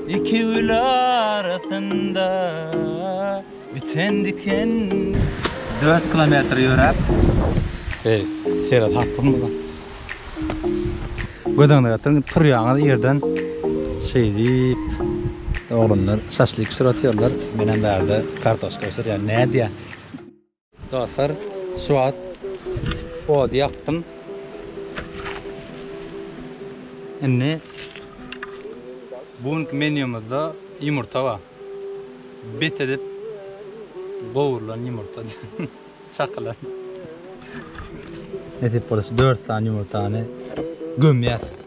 Iki gül arasynda biten diken. Dört kilometr ýöräp. Eý, Seýret hakymy bu? Göz öňüne getiriň, turýaňyz ýerden şeýdip. Oglanlar şaşlyk bişirip otyrlar, menem bärde kartoşka bişirýän. Nädýä? Dostlar şu wagt ody ýakdym. Indi bu günki menýumyzda ýumurta bar. Bet edip gowrulan ýumurta. Çakylan. Nesip bolsa 4 sany ýumurtany gömýäs.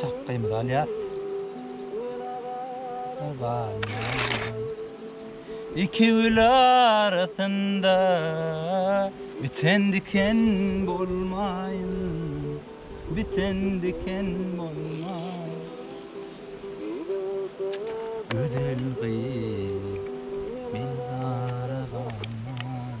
Çakgymyzy alýas. Iki gül arasynda biten diken bolmaýyn, biten diken bolmaýyn. Gözel gyz, meni gara galmaýyn.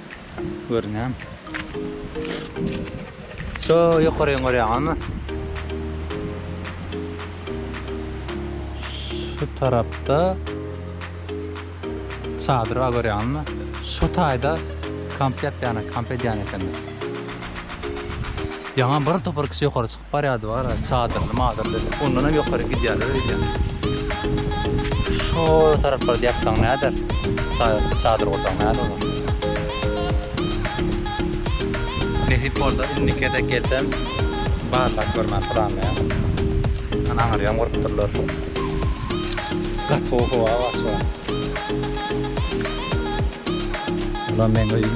Görünýärmi? Şu ýokaryny görýäňizmi? Şu tarapda çadyr bar görýäňizmi? Şu taýda kamp ýapýan, kamp edýän ekenler. Ýaňa bir topar kişi ýokary çykyp. Barýardy gara çadyrly madyrly. Ondan hem ýokary gidýärler öýdýän. Şo taraplarda ýatsaň näder? Taýda çadyr gursaň näder olar? Nesip bolsa indiki gezek gelsem barlap görmän planlaýan. Ana aňry hem gurupdyrlar. Gaty gowy howa bar şu an. Bula meň öýüm.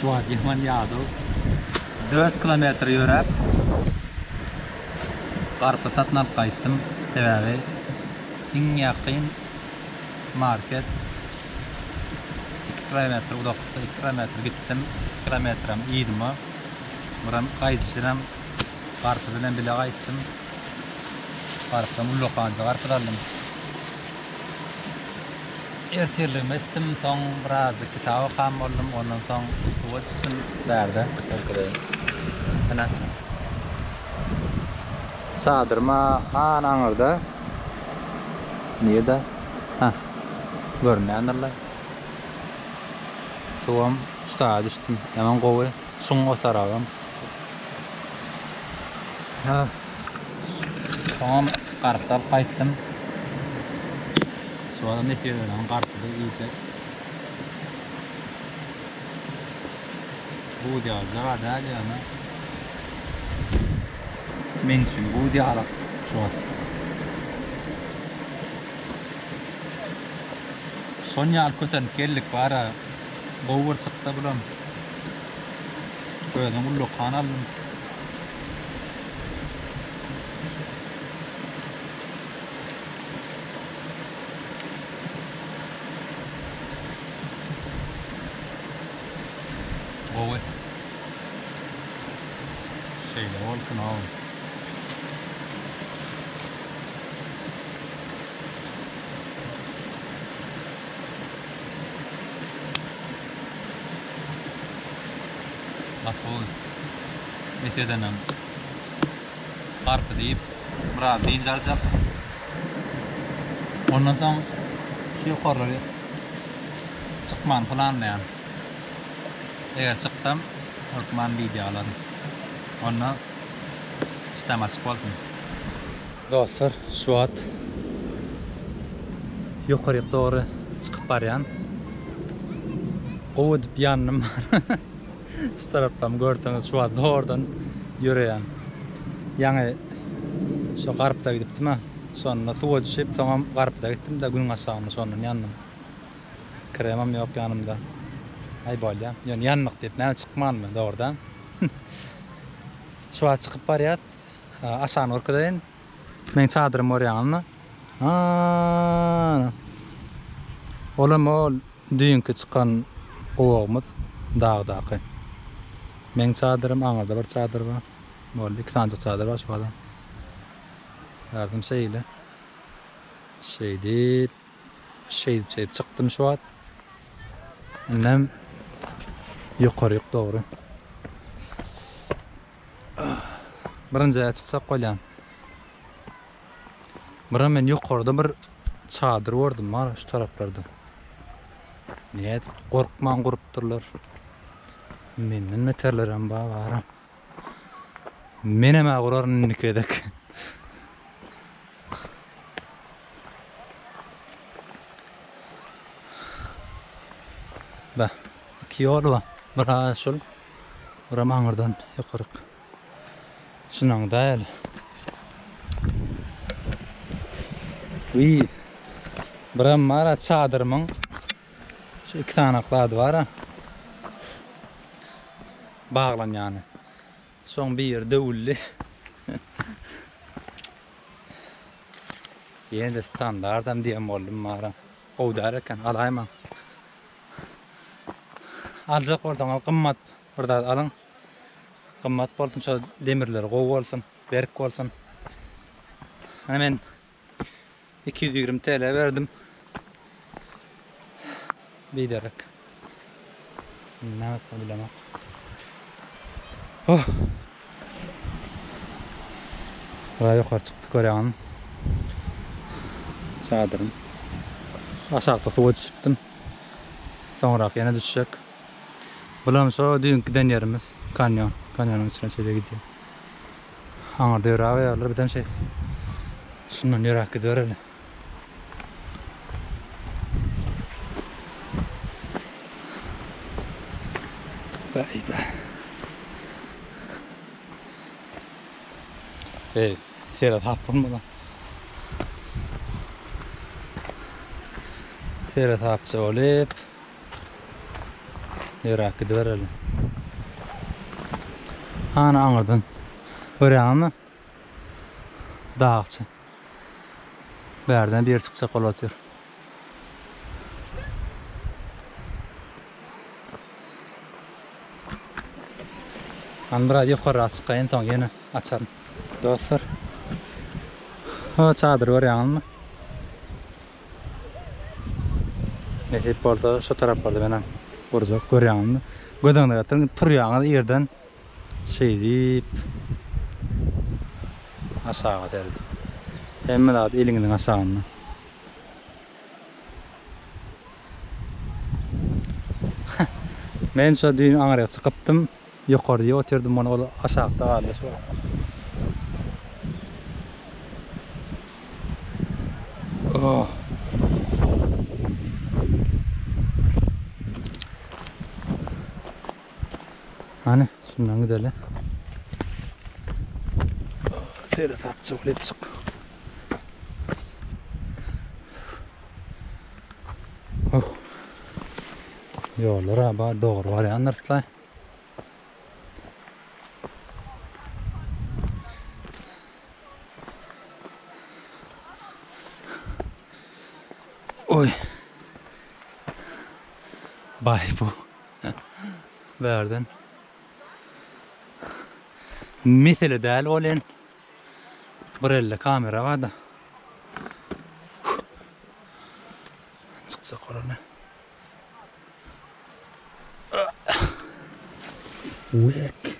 Şuwagihman Ýazow dört kilometr ýöräp garpyz satyn alyp gaýtdym, sebäbi iň ýakyn market iki kilometr uzakda, iki kilometr gitdim, iki kilometrem yzyma, buram gaýdyşyram garpyz bilen bile gaýtdym, garpyzam ullakanjy garpyz aldym. Ertirligimi etdim, soň birazjyk kitap okan boldum, ondan soň suwa düşdüm. Bärde görkezeýin. Ene. Çadyrym an aňyrda. Nirde? Hä. Görünýändirlaý. Suwam şu taýa düşdüm. Ýaman gowy. Çuň otaragam. Soňam garyp alyp gaýtdym. Şu adam eti ýören garypdy iýse. Buz ýalyjyga däl ýöne. Meň üçin buz ýalyk şu wagt. Şon ýaly kösenip geldik bara gowy bir çyksa bulam. Özüm ullakan aldym. Gowy. Şeýle bolsun ow. Ýaşuly mes edenem garpy diýip biraz dynç aljak. Ondan soň şu ýokarlary çykmagyny planlaýan. Eger çyksam, hökman wideo alaryn. Onda işdäm açyk bolsun. Dostlar şu wagt ýokaryk dogry çykyp barýan. Gowy edip ýandym. Şu tarapdan görseňiz şu wagt dogrudan ýöreýän. Ýaňy şo garypda gidipdim-ä. Şonda suwa düşüp soňam garypda gitdim-de günüň aşagynda şondan ýandym. Kremim ýok ýanymda. Aý bolýa. Ýöne ýandyk diýip näme çykmanmy dogrudan. Şu wagt çykyp barýas. Aşagyny görkezeýin. Meň çadyrymy görýäňizmi? Ana. Olam ol düýnki çykan gowagymyz dagdaky. Meň çadyrym, aňyrda bir çadyr bar. Boldy, iki sanjyk çadyr bar şu gala. Garym şeýle. Şeýdip, şeýdip, şeýdip çykdym şu wagt. Indem ýokaryk dogry. Birinji jaýa çykjak bolýan. Bura men ýokarda bir çadyr gördüm bar şu taraplarda. Näet gorkman gurupdyrlar. Menden beterler hem bar bara. Men hem gurar indiki edek. Ba, iki ýol bar. Bir şol. Buram aňyrdan ýokaryk çynaň däl. Wiý. Buram bar-a çadyrymyň şu iki sanak zady bar-a. Baglanýany. Şoň bir ýeri döwüldi. Ýene-de standartam diýen boldum bar-a. Gowy däl eken, alaýmaň. Aljak bolsaňyz gymmat bir zat alyň. Gymmat bolsun şo demirleri gowy bolsun, berk bolsun. Ana men 220 TL berdim. Biderek. Näme bilemok. Oh, Gara ýokary çykdy görýäňizmi çadyrym. Aşakda suwa düşüpdim. Soňrak ýene düşjek. Bulam şo düýnki giden ýerimiz kanýon. Kanýonyň içine çenli gidýär. Aňyrda ýöräp ýörler bizem şeýle. Şundan ýöräp gidibereli. Baýba. Eý, seret hapyň bilen. Seret hapja bolup. Ýöräp gidibereli. Hany aňyrdan. Görýäňizmi? Dagçy. Bärden beri çykjak bolup otyr. Hany biraz ýokarrak çykaýyn soň ýene açaryn. Dostlar. O çadyry görýäňizmi? Nesip bolsa şu taraplarda menem gurjak görýäňizmi? Göz öňüne getirdim. Turýaňyz ýerden Şeýdip, aşaga seredip. Hemme zat eliňiziň aşagynda. Men şo düýn aňryk çykypdym. Ýokarda otyrdym, mona ol aşakda galdy şo. Oh. Hany, şundan gideli. Sere sap çok lepçik. Oh. Yollar abi doğru var ya nırslay. Oy. Bay bu. Bärden. Mesele däl ol en. Bir elde kamera var da. Çıkacak oranı. Wek.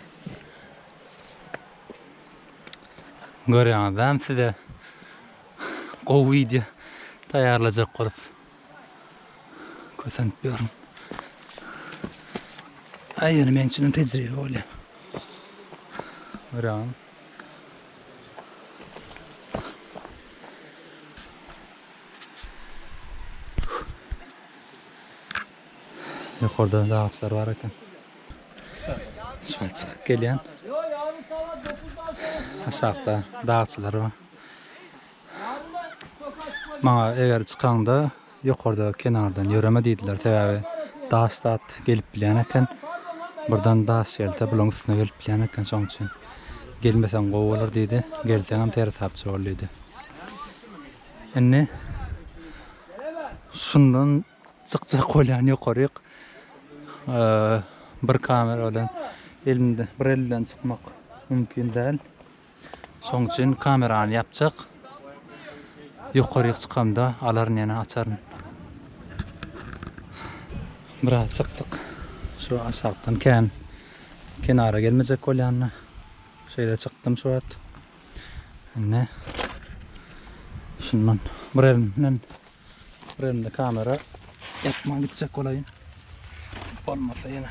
Görýäňiz, hem size gowy video taýýarlajak bolup. Kösenip ýörün. Aý ýöne meň üçinem tejribe bolýar. Öran. Ýokarda da agçlar bar eken. Şuňa çykyp gelýän. Aşakda dagçylar bar. Maňa eger çykaňda ýokarda kenardan ýöreme diýdiler, sebäbi daş zat gelip bilýän eken. Birden daş gelse bulaň üstüne gelip bilýän eken, şoň üçin gelmeseň gowy bolar diýdi. Gelseňem seresapçy bol diýdi. Indi şundan çykjak bolýan ýokaryk bir kamera bilen elimde bir elden çykmak mümkin däl. Şoň üçin kamerany ýapjak. Ýokaryk çykamda alaryn ýene açaryn. Biraz çykdyk. Şu aşakdan kän kenara gelmejek bolýanda şeýle çykdym şu wagt. Indi şundan bir elimden bir elimde kamera ýapman gitjek bolaýyn. Bolmasa ýene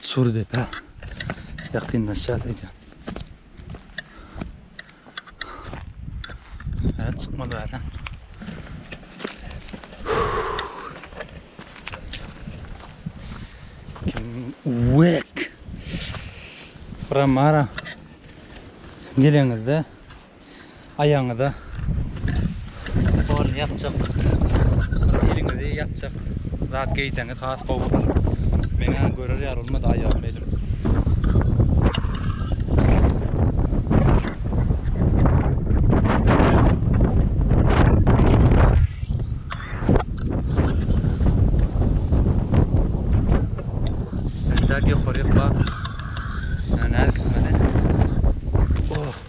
Çur depe ýakynlaşýar öýdýän. Hä, çykmaly bäri. Uwek! Bura mara geleňizde aýagyňyza torny ýapjak, eliňizi ýapjak zat geýseňiz has gowy bolar. Meňä görer ýaly bolmady aýagym, elim. Ýokaryk bar. Nädip meni? Oh.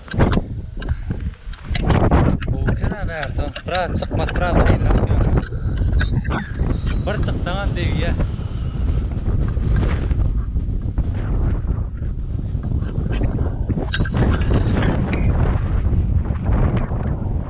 Gowukena bärde biraz çykmak biraz kynrak ýöne. Bir çyksaňam degýär.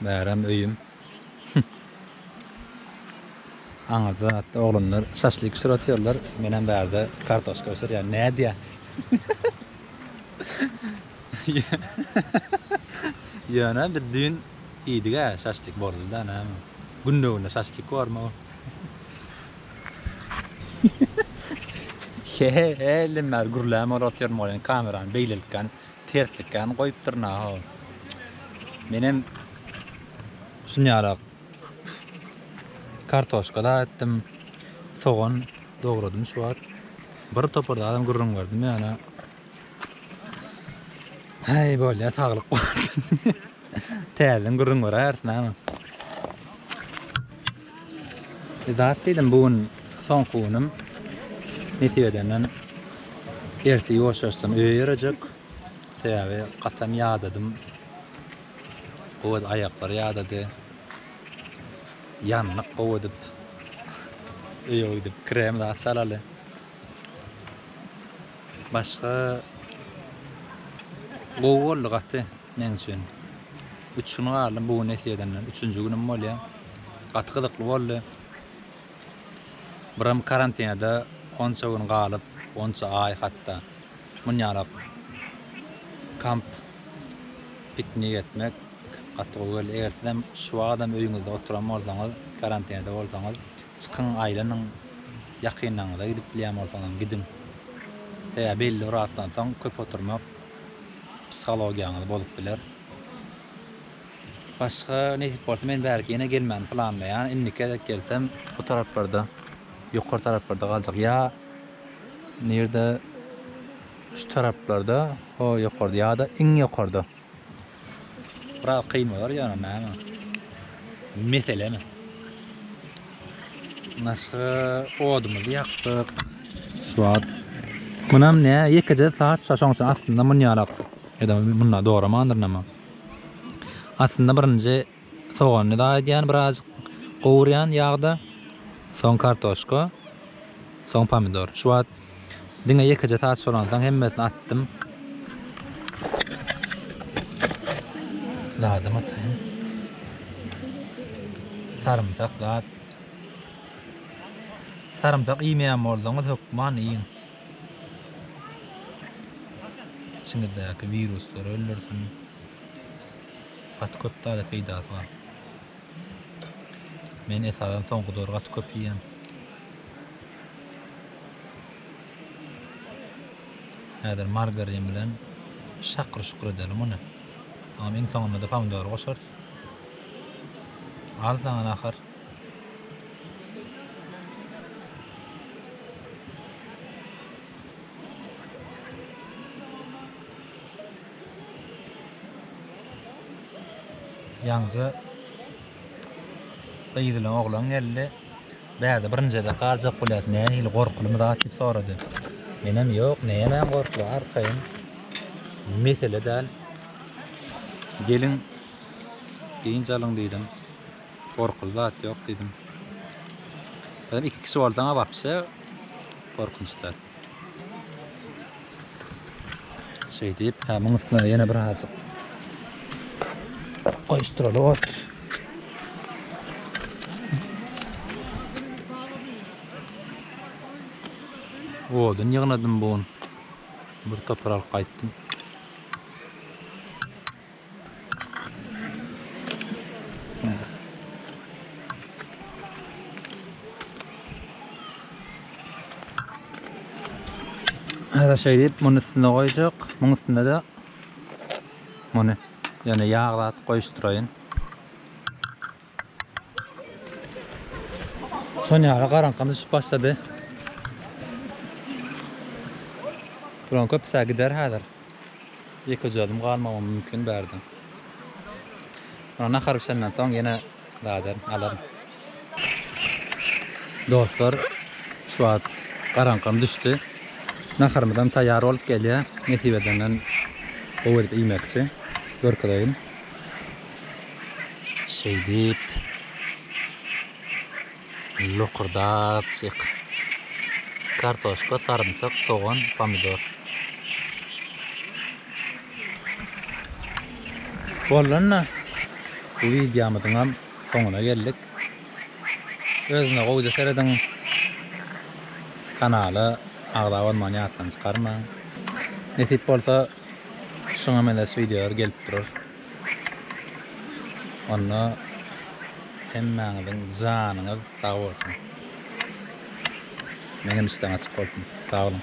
Bärem öýüm. Aňyrda zatda oglanlar şaşlyk bişirip atýarlar. Menem bärde kartoşka bişirýän. Nädýä? Ýöne biz düýn iýdik-ä şaşlyk boldy-da näme. Günde-günde şaşlyk bormy bu? He-he-he diýmän gürlämokotyrmagam kamerany beýlelikgän Tertlik kän goýupdyr naho. Menem şunýarak kartoşka da etdim. Sogan dogradym şu wagt. Bir topar zadam gürrüň berdim ýöne. Heý bolýa saglyk kuwwat. Täzeden gürrüň beräýersin näme. Idat diýdim bu gün soňky günüm nesip edenden ertir ýoşaşsam öýe ýörejek sebäbi gatam ýadadym gowy aýaklar ýadady ýandyk gowy edip öýe gidip krem zat çalaly başga gowy boldy gaty. Men üçin. Üç gün galdym bu gün nesip edenden. Üçünji günüm bolýa. Gaty gyzykly boldy. Birim karantinada onça gün galyp, onça aý hatda. Munýalak kamp piknik etmek gaty gowy geldi. Eger sizem şu wagadam öýüňizde oturan bolsaňyz, karantinada bolsaňyz, çykyň, aýlanyň. Ýakynlaryňyza gidip bilýän bolsaňyzam gidiň. Sebäbi belli bir wagtdan soň köp oturmak Psihologiýaňyz bozup biler. Başga nesip bolsa men bärki ýene gelmäni planlaýan indiki gezek gelsem bu taraplarda ýokary taraplarda galjak ýa nirde şu taraplarda ho ýokarda ýa-da iň ýokarda. Biraz kyn bolar ýöne näme. Meselemi. Naşa odumyzy ýakdyk. Şuwat. Munam ne? Ýekeje saat şa şoň üçin aslynda munýarak. Edem munda doramandyr näme. Aslynda birinji Sogany dagy edýän birazjyk gowurýan ýagda. Soň kartoşka. Soň pomidor. Şu wagt diňe ýekeje saç solansoň hemmesini atdym. Dadam ataýyn. Sarymsak dad. Sarymsak iýmeýän bolsaňyz hökman iýiň. Içiňizdäki wiruslar öldürsin. Gaty köp dada peýdasy bar. Men esasan soňky döwür gaty köp iýýän. Häzir margarin bilen şakyr-şukur edelim ony. Soňam iň soňunda-da pomidory goşarys. Arzan ahir. Ýaňja gyz bilen oglan geldi. Bärde birinji gezek galjak bolýas, nähili gorkulymy zat diýip sorady. Menem ýok, nämäň gorkuly arkaýyn. Mesele däl. Geliň dynç alyň diýdim. Gorkuly zat ýok diýdim. Sen iki kişi bolsaň-a wapşe gorkunç däl. Şeýdip, hamyň üstüne ýene birazjyk goýuşdyraly ot. Odun ýygnadym bu gün. Bir topar alyp gaýtdym. Häzir şeýdip, muny üstüne goýjak. Muň üstünde-de muny ýöne ýag zat goýuşdyraýyn. Sonýara garaňkam düşüp başlady. Bularyň köpüsi gider häzir. Ýekejedem galmagam mümkin bärde. Ana nahar bişenden soň ýene gaýdaryn, alaryn. Dostlar, şu wagt garaňkam düşdi. Naharymyzam taýýar bolup gelýär. Nesip edenden gowy edip iýmekçi. Görkezeýin. Şeýdip, lokurdaçyk, kartoşka, sarymsak, sogan, pomidor. Bollanda, bu wideomyzyň hem soňuna geldik. Özüne gowja serediň. Kanala agza bolmany ýatdan çykarmaň. Nesip bolsa, Şuňa meňzeş wideolar gelip durar. Onda hemmäňiziň janyňyz sag bolsun. Meň hem işleň açyk bolsun. Sag boluň.